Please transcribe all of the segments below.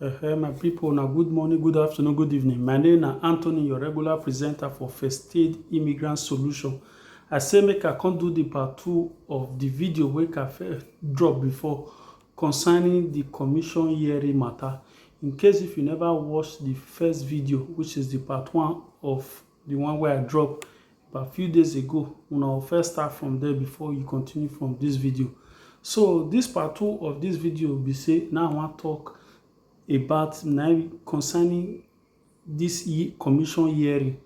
Uh, my people, now good morning, good afternoon, good evening. My name is Anthony, your regular presenter for First Aid Immigrant Solution. I say make I come do the part two of the video wey I first drop before concerning the commission hearing matter. In case if you never watch the first video, which is the part one of the one wey i drop about few days ago una will first start from there before you continue from this video so this part two of this video be say now i wan talk about na concerning this commission hearing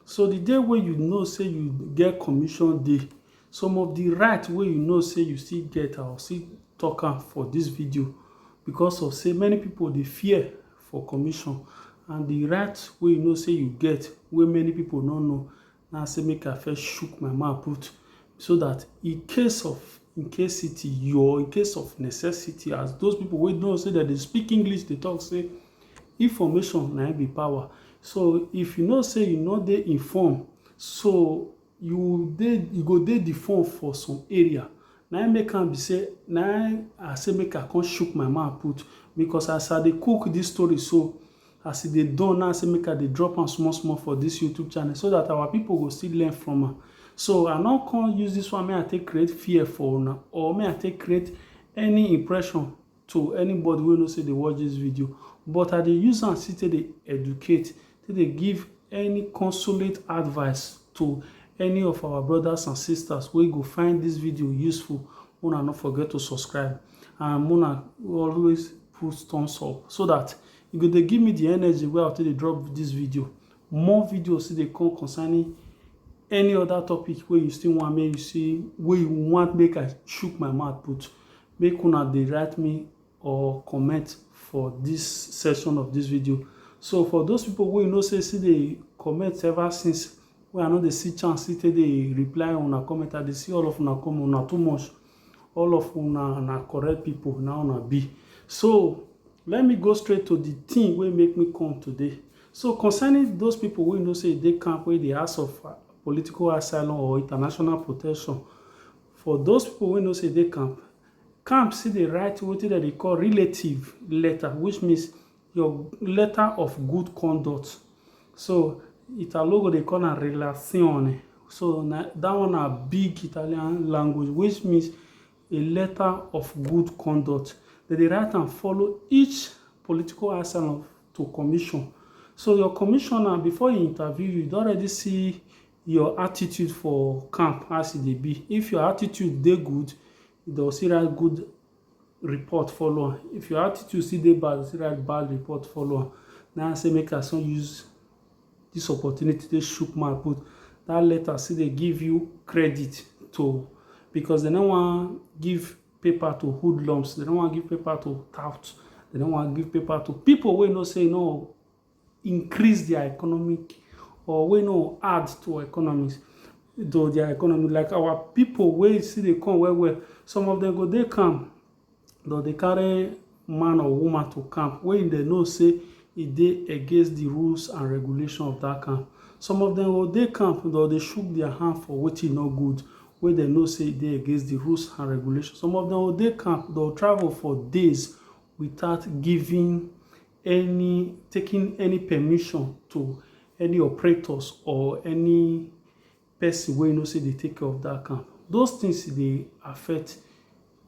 so the day wey you know say you get commission day some of the right wey you know say you still get i will still talk am for this video because of say many people dey fear for commission and the right wey you know say you get wey many people no know na say make I first shook my mouth put so that in case of in case city you or in case of necessity as those people wey know say dem dey speak English dey talk say information na im be power so if you know say you no dey inform so You dey, you go dey the phone for some area. Na im make am be say, na im I say make I come chook my mouth put because as I dey cook this story so, as e dey done now, I say make I dey drop am small small for this YouTube channel so that our people go still learn from am. So I no come use this one make I take create fear for una or make I take create any impression to anybody wey know say dey watch this video but I dey use am still take dey educate take dey give any consolate advice to any of our brothers and sisters wey go find this video useful una no forget to subscribe and una always put thumbs up so that e go dey give me the energy wey I take dey drop this video more videos still dey come concerning any other topic wey you still want make you see wey you want make I chook my mouth put make una dey write me or comment for this section of this video so for those people wey you know say still dey comment ever since wey i no dey see chance still take dey reply una comment i dey see all of una comment una too much all of una na correct people na una be so let me go straight to the thing wey make me come today so concerning those people wey you know say e dey camp wey dey ask of political asylum or international protection For those people wey know say e dey camp, camp still dey write wetin dem dey call relative letter which means your letter of good conduct. So Italo go dey call am relazione. So na dat one na big Italian language which means a letter of good conduct. Dem dey write am follow each political asylum to commission. So your commissioner, before e interview you, e don already see your attitude for camp as e dey be. If your attitude dey good, dey go still write good report follow am. If your attitude still dey bad, dey go still write bad report follow am. Na im say make I so use dis opportunity take shook mouth put dat letter still dey give you credit to because dey no wan give paper to hoodlums, dey no wan give paper to tout, dey no wan give paper to pipu wey know say no increase their economic or wey no add to economies to their economy like our people wey still dey come well well some of them go dey camp dem dey carry man or woman to camp wey dem know say e dey against the rules and regulation of that camp some of them go dey camp dem go dey shook their hand for wetin no good wey dem know say e dey against the rules and regulation some of them go dey camp dem go travel for days without giving any taking any permission to any operators or any person wey you know say dey take care of that camp those things dey affect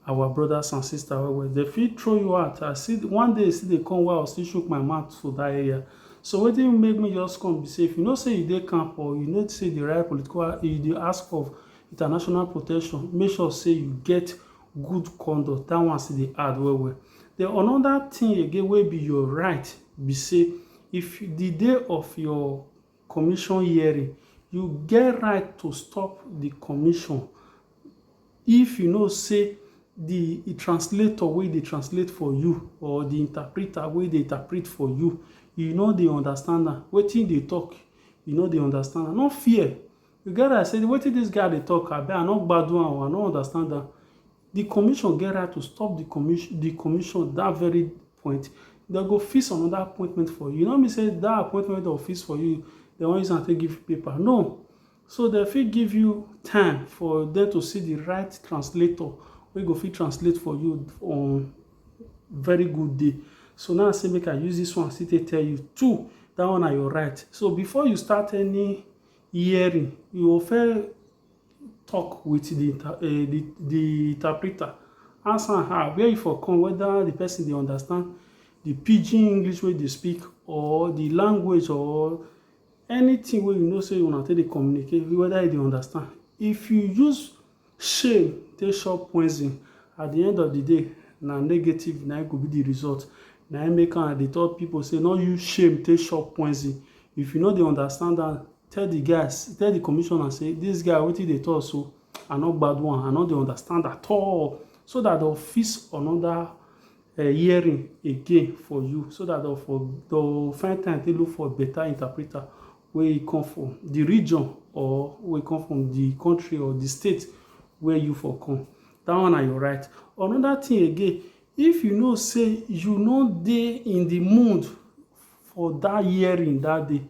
our brothers and sisters well well they fit throw you out i see one day see dey come while i still shook my mouth for that area so wetin make me just come be say if you know say you dey camp or you know say the right political you dey ask of international protection make sure say you get good conduct that one still dey add well well Den anoda tin again wey be your right be sey, if di day of your commission hearing, you get right to stop di commission if you know sey di translator wey dey translate for you or di interpreter wey dey interpret for you, you no dey understand am. Wetin e dey tok, you no dey understand am. No fear. You get right sey wetin dis guy dey tok, abi I no gbadun am o, I no understand am. Di commission get right to stop di commission di commission dat very point. Dem go fix another appointment for you. E no mean say dat appointment wey dem go fix for you, dem wan use am take give you paper, no. So dem fit give you time for dem to see di right translator wey go fit translate for you on very good day. So na im I say make I use dis one still take tell you too, dat one na your right. So before you start any hearing, you go first talk with the inter um the the interpreter, ask am how where e for come whether the person dey understand the pidgin English wey e dey speak or the language or anything wey you know sey una take dey communicate whether e dey understand. If you use shame take chop poison at the end of the day na negative na im go be the result. Na im make am dey tell people sey no use shame take chop poison. If you no dey understand am Tell the guys, tell the commissioner say this guy wetin dey talk so I no gbadu am, I no dey understand at all so that they'll fix another uh, hearing again for you so that they'll for they'll find time to look for better interpreter where you come from the region or where you come from the country or the state where you for come. That one are your right. Another thing again, if you know say you no dey in the mood For that hearing that day,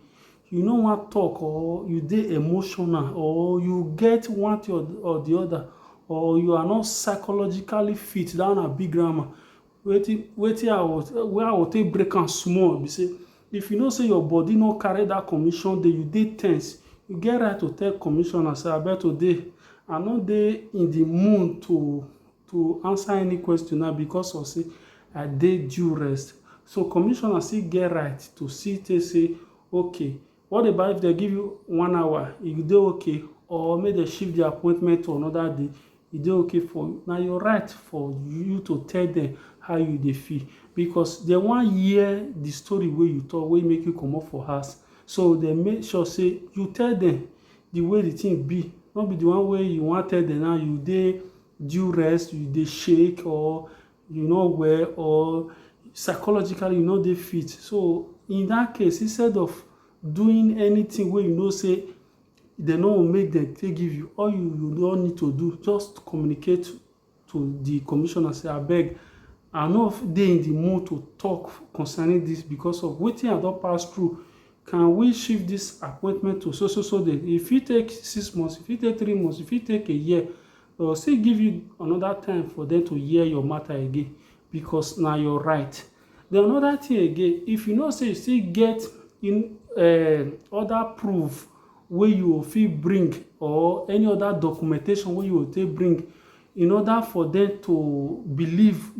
you no wan talk or you dey emotional or you get one thing or the other or you are not psychologically fit, that one na big grammar. Wetin wetin I was wey I go take break am small be say, if you know say your body no carry that commission day, you dey tense, you get right to tell commissioner say abeg today I no dey in the mood to to answer any question now because of say I dey due rest. So commissioner still get right to see tey say okay what about if dem give you one hour e go dey okay or make dem shift the appointment to another day e dey okay for you na your right for you to tell dem how you dey feel because dem wan hear the story wey you talk wey make you comot for house so dem make sure say you tell dem the way the thing be no be the one wey you wan tell dem now you dey due rest, you dey shake or you no well or psychologically you no dey fit. So, in dat case, instead of doing anything wey you know sey de no make dem take give you, all you you don need to do, just communicate to the commissioner sey abeg I no dey in the mood to talk concerning dis because of wetin I don pass through Can we shift this appointment to so so so day? E fit take six months, e fit take three months, e fit take a year. But still give you another time for them to hear your matter again because na your right. Then another thing again, if you know say you still get in um other proof wey you go fit bring or any other documentation wey you go take bring in order for them to believe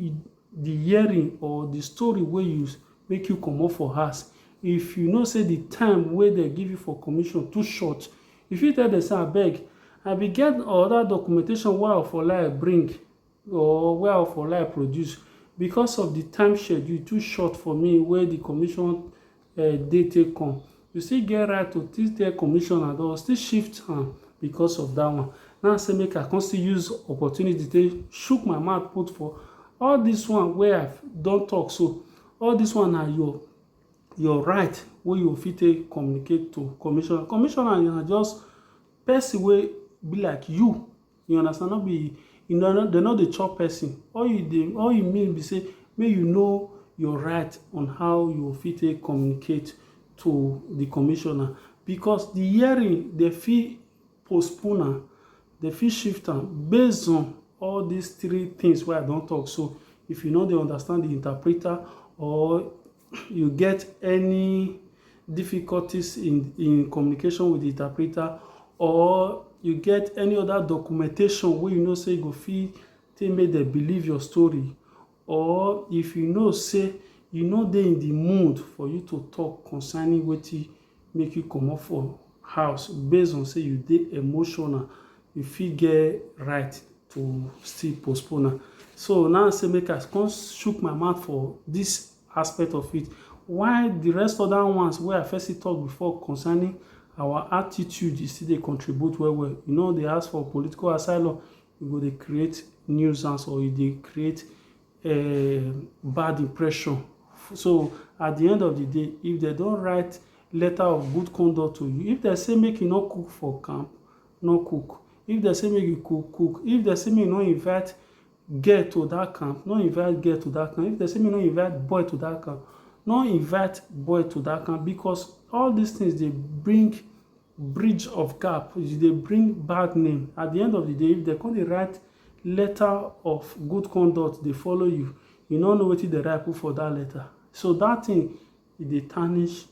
Di hearing or di story wey you make you comot for house, if you know say di time wey dem give you for commission too short, you fit tell dem say abeg I bin get anoda documentation wey I for like bring or wey I for like produce, because of di time schedule too short for me wey di commission. eh, dey take come you still get right to still tell commissioner they will still shift am because of that one now i say make i come still use opportunity take shook my mouth put for all this one wey i don talk so all this one na your your right wey you fit take communicate to commissioner commissioner na just person wey be like you You understand no be dem no dey chop person all you dey all you need be sey make you know your right on how you go fit take communicate to de commissioner because de hearing dem fit postpone am dem fit shift am base on all dis three things wey I don talk so if you no dey understand de interpreter or you get any difficulties in, in communication with the interpreter or you get any other documentation wey you know say you go fit take make dem believe your story or if you know say you no dey in the mood for you to talk concerning wetin make you comot for house based on say you dey emotional, you fit get right to still postpone am. So na im say make I come chook my mouth for dis aspect of it. While di rest other ones wey I first still talk before concerning our attitude, e still dey contribute well well. You no dey ask for political asylum, you go dey create nuisance or you dey create. um bad impression so at the end of the day if they don't write letter of good conduct to you if they say make you not cook for camp no cook if they say make you cook cook if they say make you no invite girl to that camp no invite girl to that camp if they say make you no invite boy to that camp no invite boy to that camp because all these things they bring bridge of gap they bring bad name at the end of the day if they come dey write Letter of good conduct dey follow you, you no know wetin dem write put for dat letter. So dat thing e dey tarnish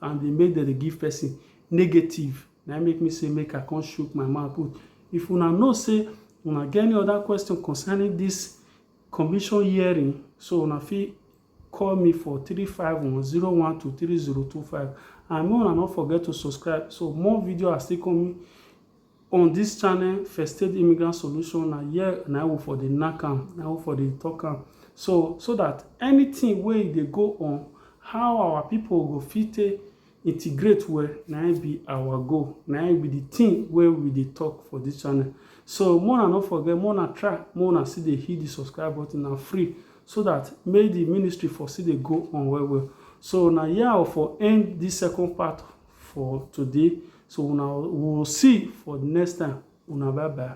and dey make dem dey give person negative. Na im make me say make I come chook my mouth put. If una know say una get any other question concerning dis commission hearing, so una fit call me for three five one zero one two three zero two five and make una no forget to subscribe so more video are still coming. On this channel first state immigrant solution na here na we for dey knack am na we for dey talk am so so that anything wey e dey go on how our people go fit take integrate well na im be our goal na im be the thing wey we dey talk for this channel so make una no forget make una try make una still dey hit the subscribe button na free so that make the ministry for still dey go on well well so na here I for end this second part for today so una we will see for the next time una bye bye